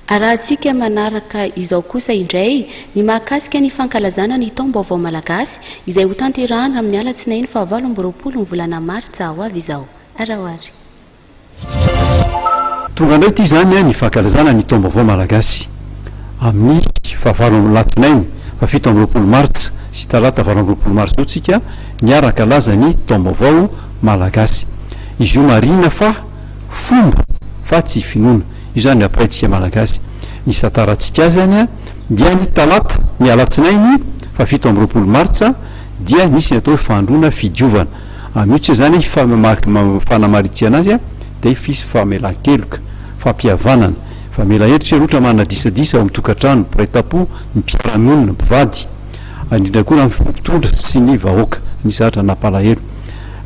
Arahantsika manaraka izao kosa indray ny mahakasika ny fankalazana ny Taom-baovao Malagasy izay hotanterahana amin'ny Alatsinainy fahavalo amby roapolo ny volana Martsa ho avy izao. Araho ary. Tonga indray ity izany ny fankalazana ny Taom-baovao Malagasy amin'ny fahavalo am-, Alatsinainy fahafito amby roapolo Martsa sy Talata valo amby roapolo Marsa io tsika miara-kalaza ny Taom-baovao Malagasy. Izy io marihina fa. fomba fa tsy finoana. Io izany ny ampahintsika Malagasy. Ny isan-tarantsika azany dia ny talata, ny alatsinainy faha fito amby roapolo martsa dia nisy ny atao hoe fandroana fidiovana. Amin'io tsy izany fanamaritihana azy dia fisy famelan-keloka, fampihavanana, famela heloka isika roatra manana disadisa ao amin'ny tokantrano, mpiray tampo, ny mpiara-monina, mpivady, indrindra koa ny amin'ny mpitondra sy ny vahoaka nisy zahatra nampalahelo.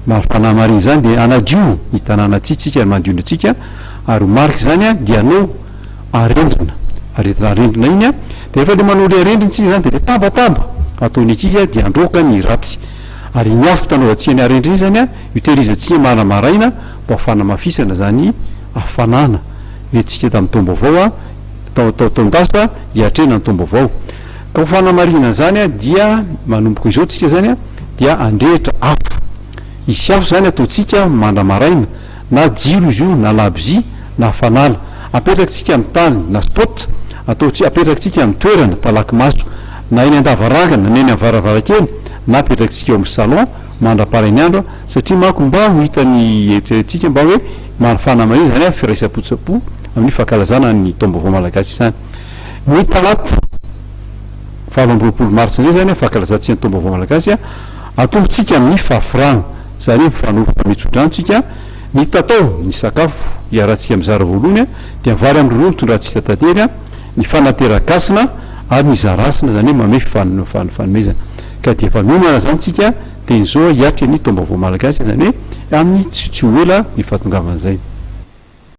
Mba ho fanamarina izany dia hanadio ny tanàna tsy tsika ny mandio ny antsika ary ho marika izany dia hanao arendrina ary entina arendrina iny dia rehefa ilay manao ilay arendrina isika izany dia ilay tabataba ataon'ny ankizy dia handroaka ny ratsy ary iny afo hitanaovantsika ny arendrina iny izany io tehirizantsika marina maraina mba ho fanamafisana izany hafanana nentintsika tamin'ny taom-baovao tao tao taon-dasa hiatrehana ny taom-baovao Ho fanamarihana izany dia manomboka izao tsika izany dia handrehitra afo. Hisy afo izany ataontsika mandra-maraina, na jiro izy io, na labozia, na fanala. Apetrakitsika amin'ny tany, na spot, ataontsika, apetrakitsika amin'ny toerana, talaky maso, na eny an-davarangana, na eny amin'ny varavarankely, na apetrakitsika eo amin'ny salon mandra-parain'ny andro, satria manko mba ho hitan'ny eritreretintsika mba hoe fanamarihana izany firaisam-po tsapo amin'ny fankalazana ny taom-baovao malagasy izany. Ny talata valo amby roapolo marsa indray izany, fankalazantsika ny Taom-baovao malagasy, atombotsika amin'ny fahafirana, izany hoe mifanomboka mitso-drano tsika, mitatao ny sakafo iarahantsika mizara voalohany dia vary amin'ny rony tondrantsika tately, ny fanateran-kasina ary ny zarasina, izany hoe manome fanomezana. Ka dia efa mihinana izany tsika dia izao hiatry ny Taom-baovao malagasy, izany hoe amin'ny tsy ho ela ny fahatongavan'izay.